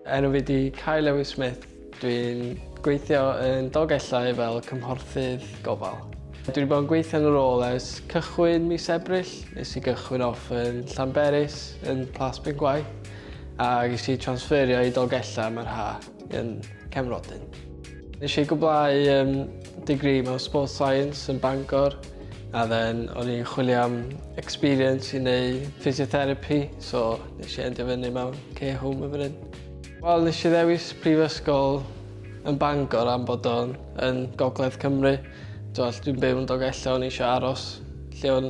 Enw fi di Kai Lewis Smith. Dwi'n gweithio yn Dolgellau fel cymhorthydd gofal. Dwi wedi bod yn gweithio yn y rôl ers cychwyn mis Ebrill. Nes i gychwyn off yn Llanberis, yn Plas Bengwaith, a ges i transferio i Dolgellau mae'r ha. yn Cefnrodyn. Nes i gwblhau um, degree mewn Sports Science yn Bangor a then o'n i'n chwilio am experience i neu physiotherapy so nes i endio fyny mewn care home yn fan Wel nes i ddewis prifysgol yn Bangor am bod o'n yn gogledd Cymru. Dwi'n dwi'n byw yn Dogella o'n i eisiau aros lle o'n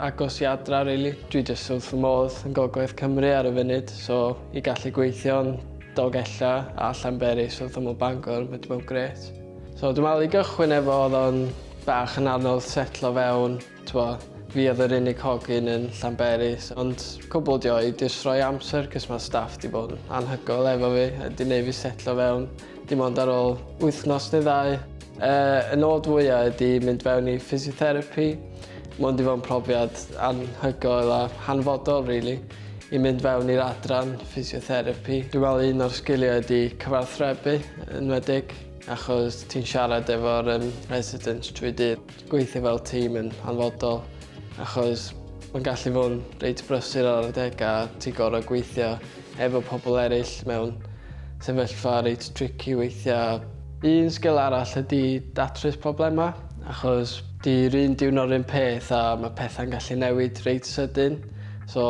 agos i adra rili. Really. Dwi jyst wrth fy modd yn gogledd Cymru ar y funud so i gallu gweithio'n Dolgellau a Llanberis wrth ymyl Bangor, which were great. So dwi'n meddwl i gychwyn efo oedd o'n bach yn anodd setlo fewn, twa, fi oedd yr unig hogyn yn Llanberis, ond cwbl dio i jyst rhoi amser cys mae staff di bod yn anhygoel efo fi a di neud fi setlo fewn dim ond ar ôl wythnos neu ddau. Y nod fwya ydi mynd fewn i physiotherapy, mond i fod yn profiad anhygoel a hanfodol rili i mynd fewn i'r adran physiotherapy. Dwi me'wl un o'r sgilia ydi cyfathrebu yn wedig achos ti'n siarad efo'r yym residents trwy dydd. Gweithio fel tîm yn hanfodol achos ma'n gallu fod yn reit brysur ar adega a ti gor'o' gweithio efo pobl eraill mewn sefyllfa reit tricky weithiau. Un sgil arall ydy datrys problemau, achos 'di'r un diwrnod 'r un peth a mae pethau'n gallu newid reit sydyn, so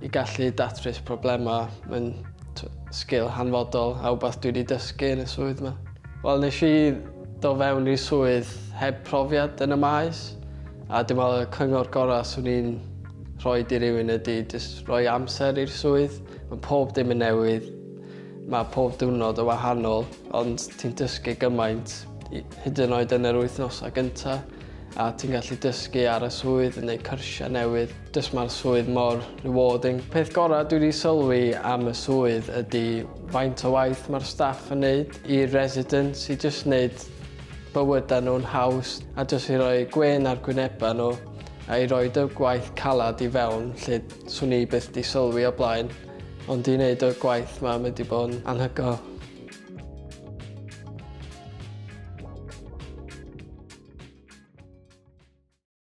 i gallu datrys problemau mae'n sgil hanfodol a wbath dwi 'di dysgu yn y swydd 'ma. Wel nes i do fewn i'r swydd heb profiad yn y maes a dwi'n meddwl y cyngor gorau 'swn i'n Rhoi di rhywun ydi jyst rhoi amser i'r swydd. Mae pob dim yn newydd. Mae pob diwrnod yn wahanol, ond ti'n dysgu gymaint, hyd yn oed yn yr wythnosau gyntaf, a ti'n gallu dysgu ar y swydd, yn gwneud cyrsiau newydd. Jyst mae'r swydd mor rewarding. Peth gorau dwi wedi sylwi am y swydd ydy faint o waith mae'r staff yn neud i'r residents i jyst neud bywydau nhw'n haws a jyst i roi gwên ar gwynebau nhw I roid y gwaith calad i fewn lle 'swn i byth 'di sylwi o blaen, ond i wneud y gwaith 'ma mae 'di bod yn anhygoel.